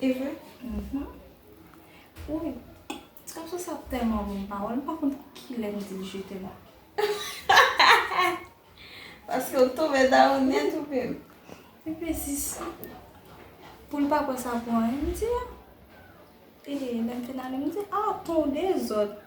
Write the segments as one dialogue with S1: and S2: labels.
S1: E vre? Mhmm. Wouyy. Ti gason sa tèlman bon m pa wè l, m pa konn kilè m di l je t'aime la. Paske ou tonbe dan ou nèt ou menm. Li vle di sa. Pou l pa pran sa pou anyen m di a. E lè m fin ale m di, ah ton w dezòd.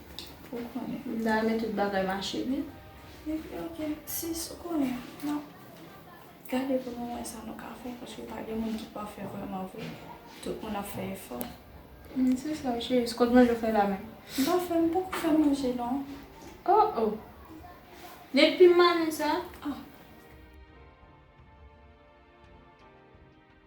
S1: Ou konnen. M ta renmen tout bagay mache byen. Epi ok sis, ou konnen, n ap gade pou nou wè sa nou ka fè paske pa gen moun ki pafè vrèman vre. Tout moun ap fè efò. M se sa w cheri. Se kot manje w fè la menm? M pa fè, m poko fè manje non. O o! Depi manen sa? Ah.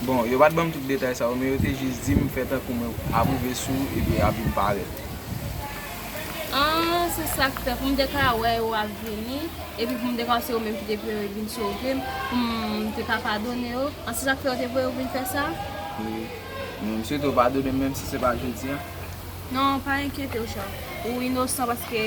S2: Bon, yo pa t ban m tout detay sa yo, men yo te jis di m fè tankou mwen ap rive sou ou epi w ap vin parèt. An,
S1: se sa k fè, pou m te ka wè yo ap vini, epi pou m te ka wè se yo menm ki te pou yo vin sove m, pou m te ka padone yo. An, se sa k fè yo te voye w vin fè sa? Wi.
S2: Men m swete w padone m menmsi se pa jodi a. Non, pa
S1: enkyete w, Chak. Ou inosan paske.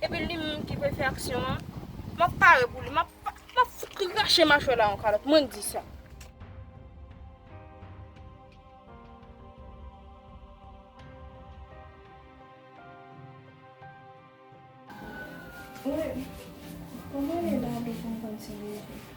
S1: Epi li menm ki pral fè aksyon an. Map pare pou li. Map fout krache machwè la an kalòt. Mwen di sa. Mwen. Mwen mwen lè la de fon kontinye.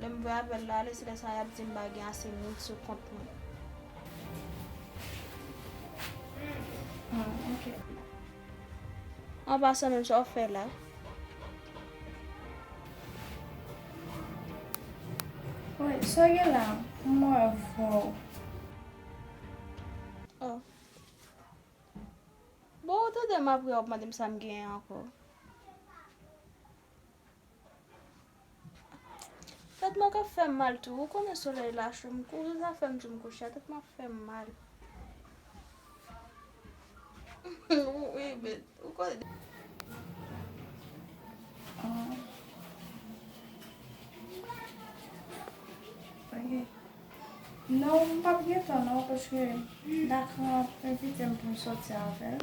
S1: Lè m vwe avè l la ale se lè sa y ap di m pa gen ase moun sou kont mwen. An pasan menm sa w fè la? Wi,
S3: sa w gen la? M wè vwa w. Oh.
S1: Bon ou tande m apre w ap mande m sa m gen ankò. Tèt mwen kap fèm mal tou ou konnen solèy la cho m kouri zafèm joum kouche a tèt mwen ap fèm mal.
S3: Non m pap gen tan non paske Dacre ap envite m pou m sòti avèl.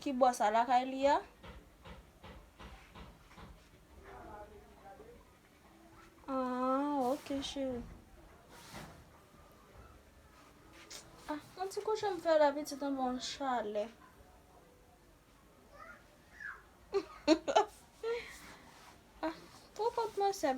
S3: Ki bò
S1: sa lakay li a? Aah ok cheri. Ah yon ti kouche m fè la pitit anba yon chalè. Ah twò kont mwen sèm.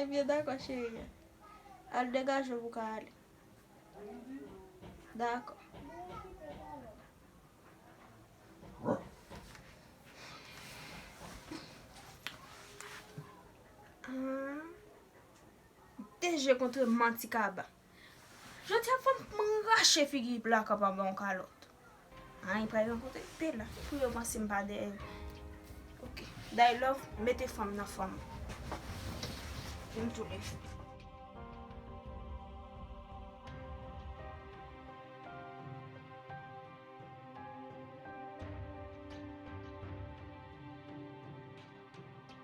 S1: Ebyen dakò cheri. Al degaje w pou w ka ale. Dakò. Te je kontre manti kaba. Jodi a fòk m pran rache figi Blacka pa ba w kalòt. An li pral rankontre Bella pou yo panse m pa dèyè l. Ok, Day Love mete fanm nan fòm. Vin m tounen.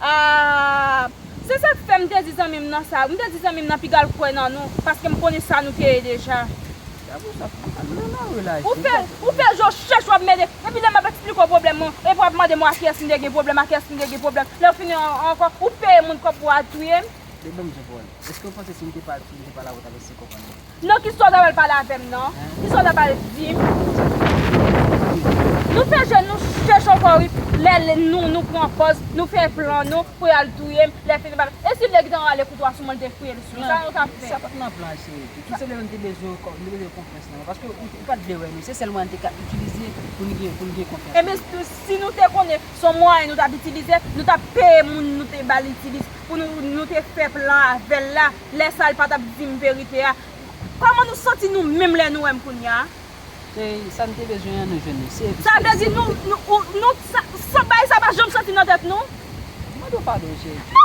S4: Aah
S3: Se sak fè m te di zanmi m nan sa wi, m te di zanmi m nan piga l kwè nan nou paske m konnen sa nou te ye deja. Ou fè je w chèch wap mele epi lè map eksplike w pwoblèm mwen epi wap mande mwen a kiyès m te gen pwoblèm a kiyès m te gen pwoblèm lè w fini an ankò ou peye moun kòb pou w al touye m.
S4: Non ki solda wal
S3: pale avem non. Ki solda pale dim. Nou fè je nou chèch ankò wi lè nou nou pran pòz nou fè plan nou pou yal touyem lè fini bal e si nèg tan ale kout wa sou mwen te fouyel sou sa nou tap fè. Sa pat nan plan se
S4: tout se lè nou te bezwen ou nou te bezwen konfyans nan ou paske ou pat vle wè nou se sèl mwayen nou te ka itilize poun gen poun gen konfyans nan ou. Ebyen
S3: si nou te konnen son mwayen nou tap itilize nou tap peye moun nou te bal itilize pou nou nou te fè plan avèl la. lè sa l pa t ap di m verite a. Kòman nou santi nou menm lè nou wè m kounye a? Se
S4: sa n te bezwen an, nou jwenn li. Se sa vle di
S3: nou, nou, sa bagay sa pa janm soti nan tèt nou? Mande w padon,
S4: Jezi.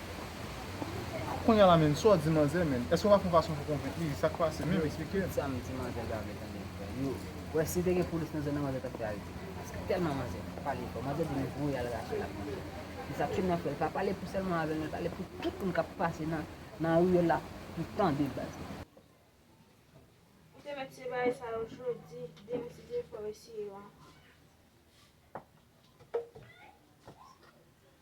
S2: Kounya la menn sa w di manzè menn eske w pa fon fason pou konvenk li sak pase menm esplike m. Sam di manzè yo
S4: avle tande yo fè yo wè si te gen polis nan zòn nan manzè tap fè arete manzè paske tèlman manzè pale fò manzè di nou voye al rache l ak manzè se sa tchoul nan fè l pa pale pou sèlman avèl nan l pale pou tout moun kap pase nan nan riyèl la pou tande l baz. Ou te mèt
S3: se bagay sa yo jodi depi ti jefò mesye yo an.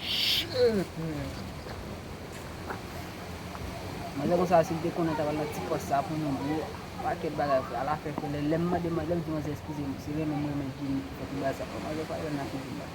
S4: Shitt man. Manzè konsa si li te konnen li tap al nan ti pòs sa pou nou bro paket bagay frè al afè frè lèm mande manzè lèm di manzè eskizem se renmen m renmen Djimi ki fè tout bagay sa frè manzè pa renmen nan figi m baz.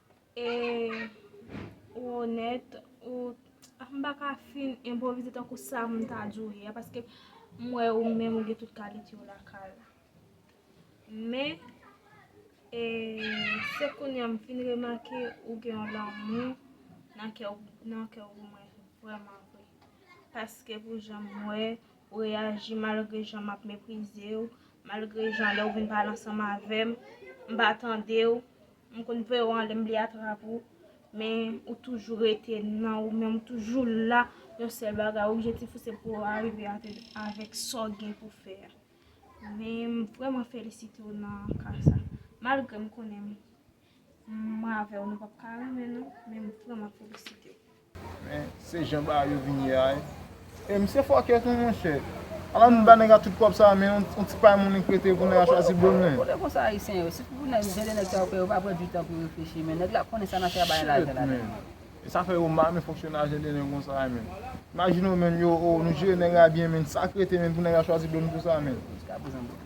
S1: E ou onèt, ou m pa ka fin enpwovize tankou sa m ta di w ye a paske m wè ou menm ou gen tout kalite yo lakay ou. Men, e se kounye a m fin remake ou gen yon lanmou nan kè w pou mwen vrèman vre. Paske pou jan m wè ou reyaji malgre jan m ap meprize w, malgre jan lè ou vin pale ansanm avè m, m pa tande w, M konn veye w an lè m bliye atrap ou men ou toujou rete nan ou menm ou toujou la yon sèl bagay objektif ou se pou w arive avèk sa w gen pou fè a men m vrèman felisite w nan ka sa malgre m konnen mwen avè w nou p ap ka renmen nou men m vrèman felisite w. Men
S2: se jan bagay yo vin ye a wi. E misye fòkè tou monchè. Ala nou ba nèg la tout kòb sa a men yon ti pay moun li prete pou nèg la chwazi bon moun. Kote konsa ayisyen yo,
S4: sitou pou nèg jan de nèg sa yo fè yo pa pran du tan pou reflechi men nèg la konnen sa nan fè a bay lajan la dan. E sa fè
S2: yo mal men fonksyonaj jan de nèg konsa a men. Imajine w menm yo oh nou jere nèg la byen men sak rete menm pou nèg la chwazi bon moun konsa menm. Jiska prezan bon.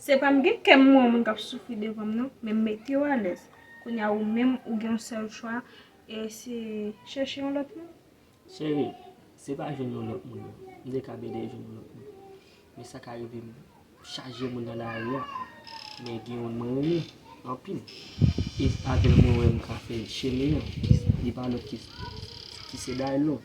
S5: Se pa
S1: m gen kè m wè moun k ap soufri devan m non, men m mete w alèz. Kounye a ou menm ou gen yon sèl chwa e se chèche yon lòt moun.
S5: Cheri,
S1: se pa
S5: jwenn yon lòt moun non. M te kab ede w
S1: jwenn yon
S5: lòt moun. Men sa ka rive m chaje moun nan lari a, men gen youn mwen renmen anpil e avè l mwen wè m ka fè chemen an, li pa lòt ki se Daylove.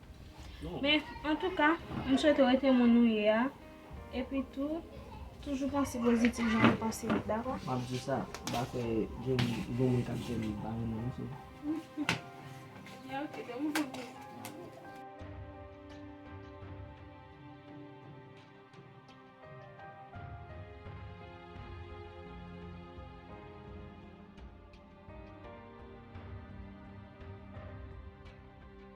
S3: Men
S5: antouka,
S3: m swete w rete moun ou ye a. Epi tou, toujou panse pozitif jan ou panse yo, dakò? M ap di sa, m pa
S5: kwè gen yon moun k ap di m m pa renmen w, so. Ebyen ok, de moun pou moun.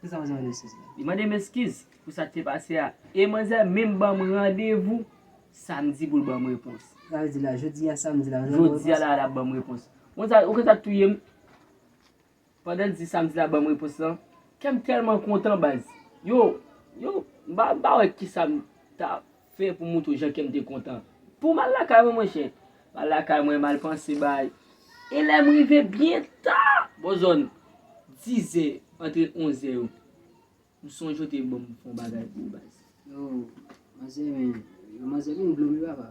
S5: Ki sa
S4: manzè mande eskiz la? Li mande m eskiz
S5: pou sa k te pase a. E manzè menm ban m randevou samdi pou l ban m repons. Sa vle di la jodi
S4: a samdi la. Jodi a la l ap ban m
S5: repons. Ou konn sa k touye m? Pandan l di samdi l ap ban m repons lan, kè m tèlman kontan baz. Yo, yo, m pa wè ki sa m ta. Fè pou moutre w jan kèm te kontan. Pou mal lakay mwen monchè. Mal lakay mwen mal panse bay. E lèm rive byen ta. Bò zòn dizè antre onzè yo. M sonje w te banm fon bagay pou ou baz. Yo
S4: manzè men. Yo manzè vin blome papa.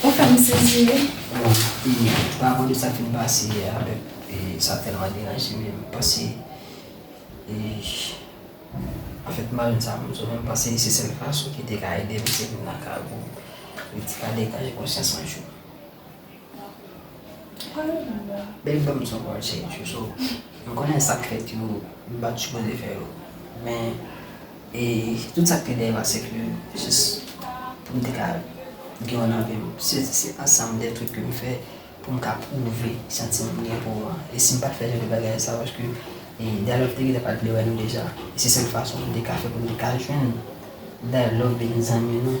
S4: Ou fè m sezi wi. Bon, e paran de sa ki m pase yè a, e sa tèlman deranje m, m panse e anfèt marenn sa m sou mwen, m panse se sèl fason ki te ka ede m se pou m lakay pou m retire degaj konsyans anjou. Baby pa m son kòl sèj yo so m konnen sak fèt yo m pat sipoze fè yo men e tout sak te dèyè pase ke jis pou m te ka gen w nan vi m se ansanm de trip ke m fè pou m ka pwouve santiman m gen pou w an e si m pat fè jan de bagay sa paske Daylof te gentan pat vle wè nou deja e se sèl fason m te ka fè pou m te ka jwenn Daylof vin zanmi nou.